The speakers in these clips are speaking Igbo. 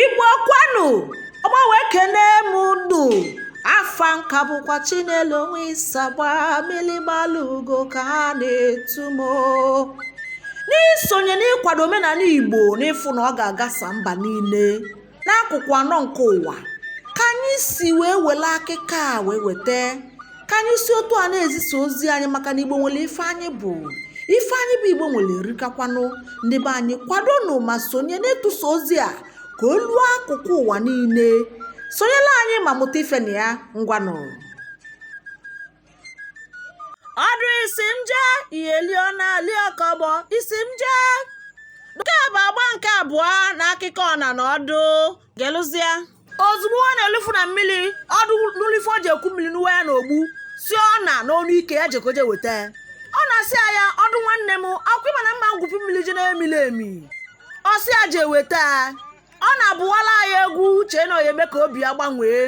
igbo kwanu ọgbahụ ekenee m unu afa nka bụkwa chinelo onwe isagba milimalugo ka ha na-etu m n'isonye n'ịkwado omenala igbo n'ịfụ na ọ ga-agasa mba niile n'akụkụ anọ nke ụwa ka anyị si wee wele akụkọ a wee weta ka anyị si otu a na-ezisa ozi anyị maka na igbo nwele ife anyị bụ ife anyị bụ igbo nwele erikakwanụ ndị be anyị kwadonụ ma sonye n'ịtụsa ozi a ka o luo akụkụ ụwa niile sonyela anyị ma mụta ife na ya ngwanụ ọdụ isi m jee ihe lio na liokọbọ isi m jee nke bụ agba nke abụọ n'akụkọ ọna na ọdụ gelụzia ozugbo ọna elufu na mmili ọdụ nulu ife o ji eku mmili nuwa ya n'ogbu sị ọna n'onu ike ya jekoje weta ya. ọna asị ya ya ọdụ nwanne m ọkwa ịma na mma ngwupi mmiri je na-emiri emi ọ sị ya je weta ya. ọna abụwala ya egwu chee na ọ ya-eme ka obi ya gbanwee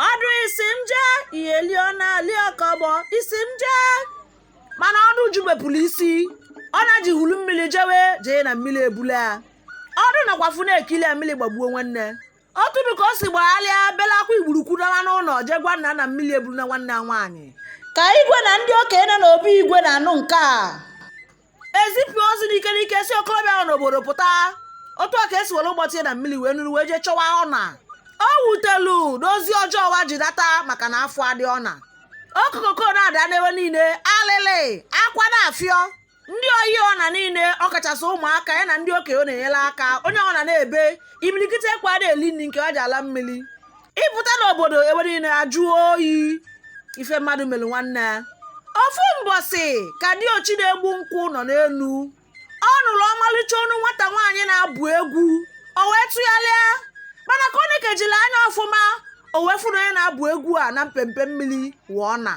ọdụ isi m jee ihe lio na lio kọbọ isi m jee mana ọdụ jụbepụlụ isi ọna eji hulu mmili jewe jee na mmili ebulu ya ọdụ nọkwafụ na-ekili ya mmili gbagbuo nwanne oturu ka o si gbagharịa bela akwa igburukwudala n'ụnọ je gwa nna na mmili eburuna nwanne ya nwaanyị ka igwe na ndị okenye nọ n'obi igwe na-anụ nke a ezipụ ozi n'ike n'ike sị okolobịa nọ n'obodo pụta otu a ka e si were ụgbọ tie na mmili wee nuru wee jee chọwa ọna o wutelu n'ozi ọjọọ wa ji data maka na afụ adị ọna okokoko na-ada n'ebe niile alịlị akwa na-afịọ ndị ọyị ọna niile ọ kachasị ụmụaka ya na ndị okenye ọ na-enyelu aka onye ọna na-ebe imilikite ekwe ada eli nni nke wa ji ala mmili ịpụta n'obodo ebe niile ajụọ oyi ife mmadụ melu nwanne ya ofu mbọsị ka diochi na-egbu nkwụ nọ n'elu ọ nụrụ ọmalịcha onu nwata nwaanyị na-abụ egwu o wee tụgharịa mana ka o nekejila anya ọfụma o wee fụ na onye na-abụ egwu a na mpempe mmili wụ ọna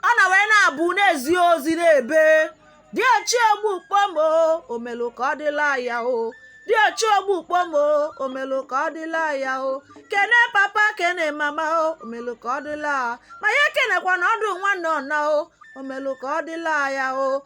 ọna wee na-abụ na-ezi ozi na-ebe diochi ogbu kpom o omelu ka ọ dịla ya o diochi ogbu kpom o omelu ka ọ dịla ya o kene papa kene mama o omelu ka ọ dịla ma ya kenekwana ọdụ nwanne ọna o omelu ka ọ dịla ya o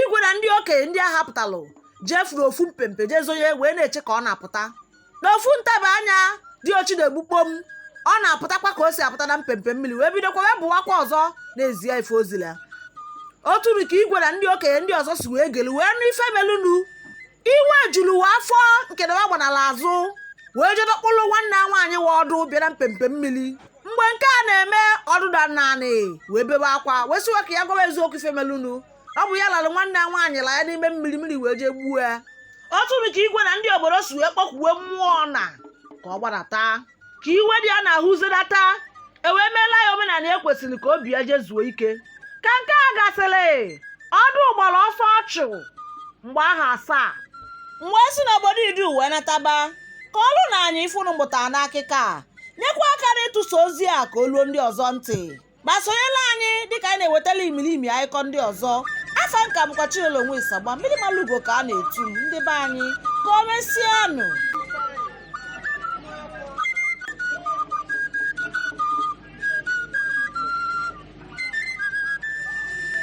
igwe na ndị okenye ndị a hapụtalụ jefuru ofu mpempe jee zonye wee na-eche ka ọna pụta n'ofu ntaba anya diochi na-egbu kpom ọna apụtakwa ka o si apụta na mpempe mmili wee bidokwa wee bụwakwa ọzọ na-ezi ya ife o zila oturu ka igwe na ndị okenye ndị ọzọ si wee gelu wee nụ ife melunu iwe juru wa afọ nke na wa gbanala azụ wee jee dọkpụrụ nwanne ya nwaanyị wa Ọdụ bịara mpempe mmiri mgbe nke a na-eme Ọdụ daa n'anị wee bebe akwa wee sị wa ka ya gwa wa eziokwu ife melunu ọ bụ ya lara nwanne ya nwaanyị la ya n'ime mmiri mmiri wee jee gbuo ya otu nụ ka igwe na ndị obodo si wee kpọkuwe mmụọ na ka ọ gbadata ka iwe dị ya n'ahụ zidata e wee meela ya omenala e kwesịrị ka obi ya jezuo ike ka nke a gasịrị Ọdụ gbara ọsọ ọchụ mgbe aha asaa m wee si n'obodo Idu wee nataba kọọlụnụ anyị ife unu mụtara n'akụkọ a nyekwa aka n'ịtụsa ozi a ka o luo ndị ọzọ ntị ma sonyela anyị dịka anyị na-ewetala imirimi akụkọ ndị ọzọ afa m ka bụkwa Chinelo Onwe Isagba mmiri mara ugo ka a na-etu m ndị be anyị ka o mesịanụ